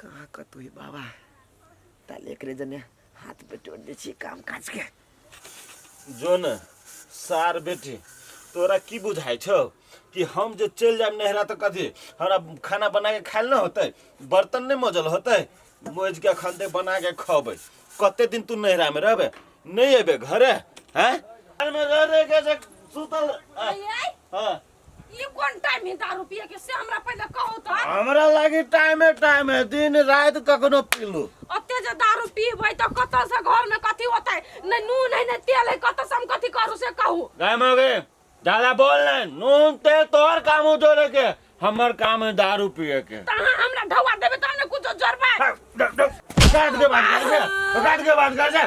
कहाँ कतौ है बाबा ताल एकरे जने हाथ पे टोट दे छी काम काज के जो न सार बेटी तोरा की बुझाइ छौ कि हम जे चलि जायब नहरा तऽ कथी हमरा खाना बना के खायल नहि होतै बर्तन नहि मजल होतै मोज के अखन तक बना के खबै कते दिन तू नहरा में रहबे नहि एबे घरे हैं घर में रह रह के जे सुतल हैं? हाँ ई कोन टाइम है दारू पिए के से हमरा पहले कहो तो हमरा लागी टाइमे टाइम है दिन रात कखनो पीलू ओते जे दारू पीबै तो कत से घर में कथी होतै नै नून है नै तेल है कत से हम कथी करू से कहू गाय मौगे ज्यादा बोल नहीं नून तेल तोहर काम हो जोड़े के हमर काम है दारू पिए के त अहाँ हमरा ढौआ देबै त हमने कुछो जोड़बै काट के बात कर से काट के बात कर से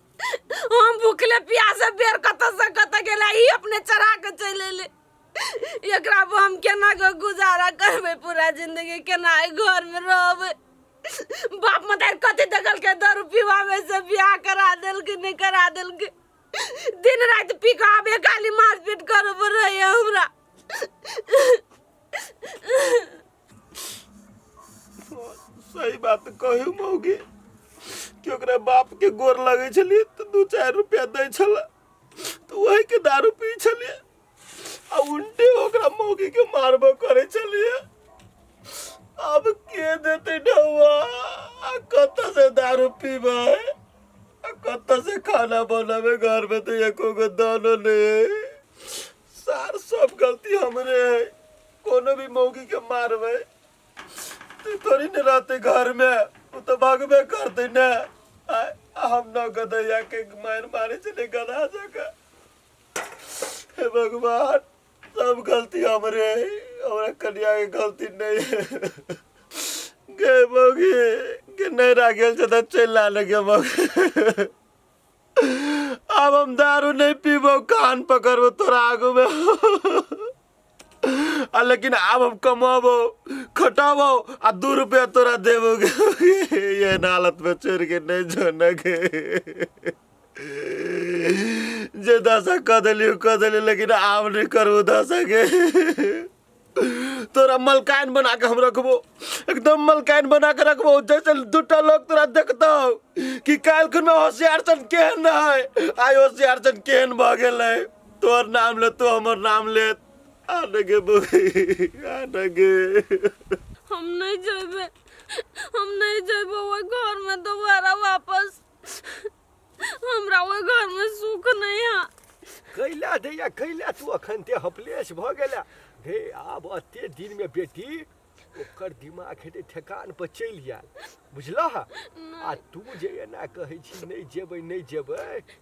हम भूखले प्यासे बेर कत से कत गेला ई अपने चढ़ा के चल एले एकरा पर हम केना के गुजारा करबे पूरा जिंदगी केना ए घर में रहबे बाप मदार कथी दगल के दारू पीवावे से बियाह करा देल के नहीं करा देल के दिन रात पी के आबे गाली मारपीट करब रहे हमरा सही बात कहू मौगी कि ओकरा बाप के गोर लगे छलिए तो दू चार रुपया दे छल तो वही के दारू पी छलिए आ उल्टे ओकरा मौगी के मारबो करे छलिए अब के देते ढौआ आ कत से दारू पीबे आ कत से खाना बनावे घर में तो एको गो दानो नहीं है। सार सब गलती हमरे है कोनो भी मौगी के मारबे तू थोड़ी न रहते घर में वो तो भागबे करते न आ आ हम न गदैया के मार मारे चले गधा जगह हे भगवान सब गलती हमरे है, हमरा कन्या के गलती नहीं है गे मौगी के नहीं राखेल छै तऽ चलि लाने गे मौगी आब हम दारू नहि पीबो कान पकड़बो तोरा आगू में आ लेकिन आब हम कमाबो खटाबो आ दू रुपया तोरा देबो ये हालत में छोड़ के नहीं जाना के जे दशा कह दिली कह दिली लेकिन आब नहीं करबो दशा के तोरा मलकान बना के हम रखबो एकदम मलकान बना के रखबो जैसे दूटा लोग तोरा देखतो कि काल खुन में होशियार सन केहन है आइ होशियार सन केहन भऽ गेलै तोर नाम ले तो हमर नाम ले आनगे बबी आनगे हम नहीं जेबे हम नहीं जेबे वो घर में दोबारा वापस हमरा वो घर में सुख नहीं है कैला दैया कैला तू अखन ते हपलेस भ गेला हे आब अते दिन में बेटी ओकर दिमाग हेते ठेकान पर चलि जायल बुझलह आ तू जे एना कहै छी नहि जेबै नहि जेबै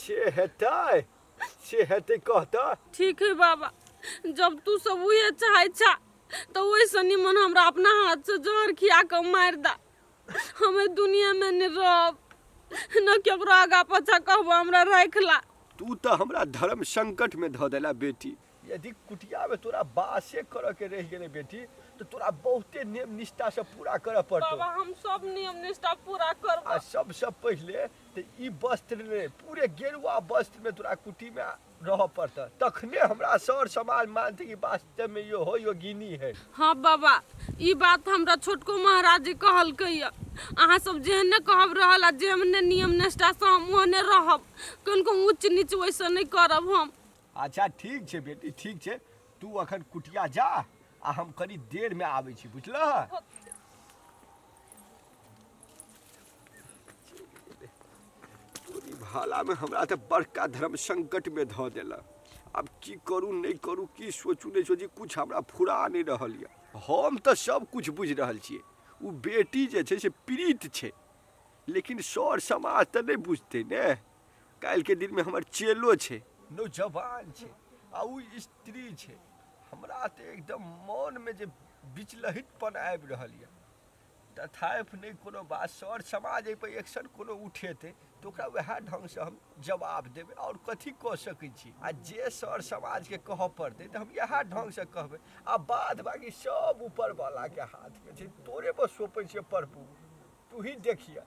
से हेतै से हेतै कहतऽ ठीक है बाबा जब तू सब उहे चाहे छा तो वैसे निमन हमरा अपना हाथ से जहर खिया के मार दा हमें दुनिया में न रहब न केकरो आगा पाछा कहबो हमरा रख ला तू तऽ हमरा धर्म संकट में धऽ देला बेटी यदि कुटियामे तोरा बासे करऽके रहि गेलै बेटी तऽ तोरा बहुते नियम निष्ठासँ पूरा करऽ पड़तौ बाबा हम सब नियम निष्ठा पूरा करब आ सबसँ पहिले तऽ ई वस्त्र नहि पूरे गेरुआ वस्त्रमे तोरा कुटीमे रहऽ पड़तऽ तखने हमरा सर समाज मानतै कि वास्तवमे यो हो योगिनी है हँ बाबा ई बात हमरा छोटको महाराज जी कहलकै यऽ अहाँ सब जेहने कहब रहल आ जेहने नियम निष्ठासँ हम ओहने रहब कनिको ऊँच नीच वैसे नहि करब हम अच्छा ठीक छै बेटी ठीक छै तू अखन कुटिया जा आ हम कनी देर में आबै छी बुझलह तोरी भाला में हमरा तऽ बड़का धर्म संकट में धऽ देला आब की करू नहि करू की सोचू नहि सोची कुछ हमरा फुरा नहि रहल यऽ हम तऽ सब कुछ बुझि रहल छियै ओ बेटी जे छै से पीड़ित छै लेकिन सर समाज तऽ नहि बुझतै ने काल्हि के दिन में हमर चेलो छै नौजवान छै आ ओ स्त्री छै हमरा तऽ एकदम मनमे जे विचलहितपन आबि रहल यऽ तथापि नहि कोनो बात सर समाज एहिपर एक्शन कोनो उठेतै तऽ ओकरा वएह ढङ्गसँ हम जवाब देबै आओर कथी कऽ सकै छी आ जे सर समाजके कहऽ पड़तै तऽ हम इएह ढङ्गसँ कहबै आ बाद बाकी सब ऊपरवलाके हाथमे छै तोरे बस सोपै छियै प्रभु तू ही देखिहऽ